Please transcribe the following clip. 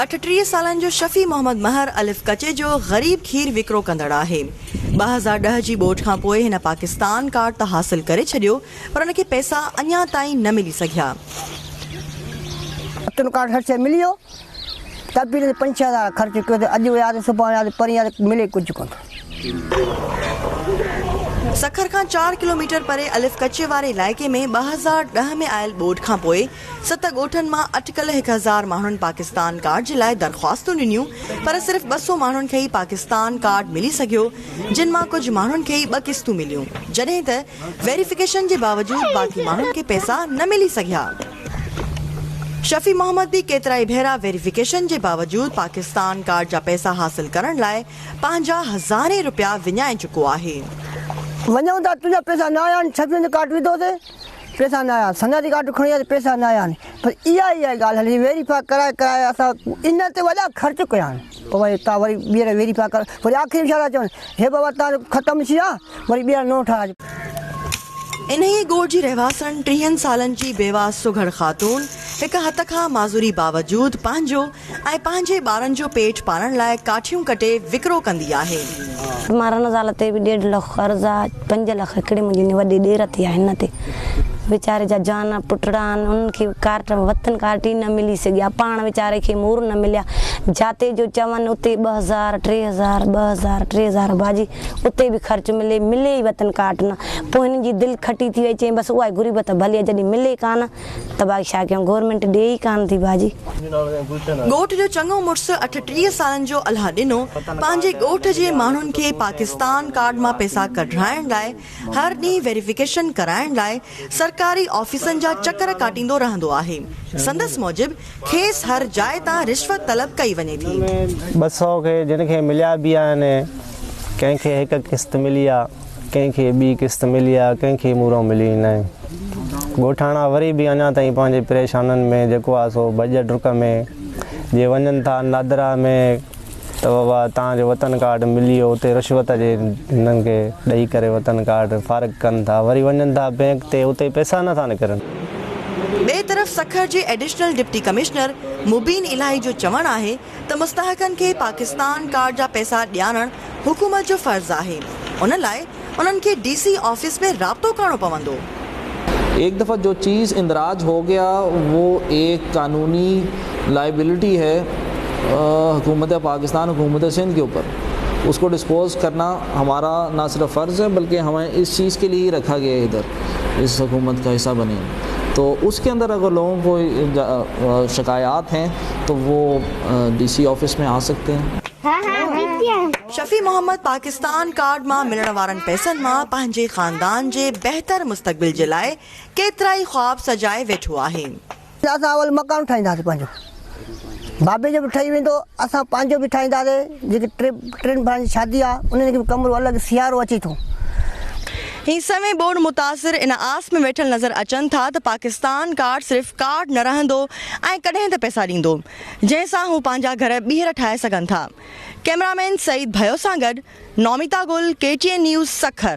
اٺٽيهه سالن جو شفيع محمد مهر الف ڪچي جو غريب کير وڪرو ڪندڙ آهي. ٻه هزار ڏهه جي ٻوڏ کان پوء هن پاڪستان ڪارڊ ته حاصل ڪري ڇڏيو پر هن کي پئسا اڃا تائين نه ملي سگهيا. ڪئپٽن ڪارڊ هر شيء ملي ويو تقريبن پنج ڇهه هزار خرچ ڪيو ته اڄ ويا ته سڀان ويا ته پرينء ته ملي ڪجهه ڪونه ٿو. سکر کان چار ڪلوميٽر پري الف ڪچي واري علائقي ۾ ٻه هزار ڏهه ۾ آيل ٻوڏ کان پوء ست ڳوٺن مان اٽڪل هڪ هزار ماڻهن پاڪستان ڪارڊ جي لاء درخواستون ڏنيون پر صرف ٻه سو ماڻهن کي ئي پاڪستان ڪارڊ ملي سگهيو جن مان ڪجهه ماڻهن کي ئي ٻه قسطون مليون جڏهن ته ويريفڪيشن جي باوجود باقي ماڻهن کي پئسا نه ملي سگهيا. شفيع محمد به ڪيترائي ڀيرا ويريفڪيشن جي باوجود پاڪستان ڪارڊ جا پئسا حاصل ڪرڻ لاء پنهنجا هزارين رپيا وڃائي چڪو آهي. وڃون ٿا تنهنجا پئسا نه آيا آهن شفيع جو ڪارڊ وڌو سين پئسا نه آيا سنگا جي ڪارڊ کڻي آيا سين پئسا نه آيا آهن پر اها ئي اها ئي ڳالهه هلي ويريفاء ڪرائي ڪرائي اسان ان تي وڏا خرچ ڪيا آهن. پوء وڃي اتان وري ٻيهر ويري پيا ڪرن، وري آخري ۾ ڇا ٿا چون، هي بابا تان جو ختم ٿي آهه، وري ٻيهر نئون ٺاهه. انهيء ڳوٺ جي رهواسڻ ٽيهن سالن جي بيواهه سگهڙ خاتون هڪ هٿ کان معذوري باوجود پنهنجو ۽ پنهنجي ٻارن جو پيٽ پالڻ لاء ڪاٺيون ڪٽي وڪرو ڪندي آهي. مارن زال تي به ڏيڍ لک قرض آ. پنج لک هڪڙي منهنجي وڏي ڏير تي آهن نه تي ويچاري جا جان پٽڙا آهن انهن کي ڪارٽ وطن ڪارٽ ئي نه ملي سگهيا پاڻ ويچاري کي مور نه مليا جاتي جو چون اتي ٻه هزار ٽي هزار ٻه هزار ٽي هزار باجي اتي به خرچ ملي ملي ئي وطن ڪارٽ نه پوء هن جي دل کٽي ٿي وئي چئي بس اها غربت ڀلي جڏهن ملي ڪانه تباهي ڇا ڪيون گورنمينٽ ڏئي ئي ڪانه ٿي ڀاڄي. ڳوٺ جو چڱو مڙس اٺٽيهه سالن جو الهه ڏنو پنهنجي ڳوٺ جي ماڻهن کي پاڪستان ڪارڊ مان پئسا ڪڍرائڻ لاء هر ڏينهن ويريفڪيشن ڪرائڻ لاء سرڪاري آفيسن جا چڪر ڪاٽيندو رهندو آهي سندس موجب کيس هر جاء تان رشوت طلب ڪئي وڃي ٿي. ٻه سئو کي جن کي مليا به آهن ڪنهن کي هڪ قسط ملي آهي. ڪنهن کي ٻي قسط ملي آ ڪنهن کي مورئون مليو ئي ناهي ڳوٺاڻا وري به اڃا تائين پنهنجي پريشانن ۾ جيڪو آ سو ڀڄ ڊڪ ۾ جي وڃن ٿا نادرا ۾ ته بابا تان جو وطن ڪارڊ ملي ويو اتي رشوت جي هنن کي ڏئي ڪري وطن ڪارڊ فارغ ڪن ٿا وري وڃن ٿا بينڪ تي اتي پئسا نه ٿا نڪرن. ٻئي طرف سکر جي additional deputy commissioner Mubeen Elahi جو چوڻ آهي ته مستحقن کي پاڪستان ڪارڊ جا پئسا ڏيارڻ حڪومت جو فرض آهي، ان لاء انهن کي ڊي سي آفيس ۾ رابطو ڪرڻو پوندو. ايڪ دفعه جو چيز اندراج هو گيا وو ايڪ قانوني لائبلٽي هي حڪومت پاڪستان حڪومت سندھ ڪي اوپر اس ڪو ڊسپوز ڪرنا همارا نا صرف فرض هي بلڪه همين اس چيز ڪي لئي هي رکا گيا هي ادھر. اس حکومت کا حصہ بني تو اس کے اندر اگر لوگوں کو شکايات هين تو وو ڊي سي آفس مين آ سڪتي هين. شفيع محمد پاڪستان ڪارڊ مان ملڻ وارن پئسن مان پنهنجي خاندان جي بهتر مستقبل جي لاء ڪيترائي خواب سجائي ويٺو آهي. اسان اول مڪان ٺاهينداسين پنهنجو بابي جو به ٺهي ويندو اسان پنهنجو به ٺاهينداسي جيڪي ٽي ٽن ڀائرن جي شادي آ انهن کي به ڪمرو الڳ سيارو اچي ٿو. هي سوين ٻوڏ متاثر ان آس ۾ ويٺل نظر اچن ٿا ته پاڪستان ڪارڊ صرف ڪارڊ نه رهندو ۽ ڪڏهن ته پئسا ڏيندو جنهن سان هو پنهنجا گهر ٻيهر ٺاهي سگهن ٿا ڪئميرامين سعيد ڀيو سان گڏ Nomita Gill K T N news Sukkur.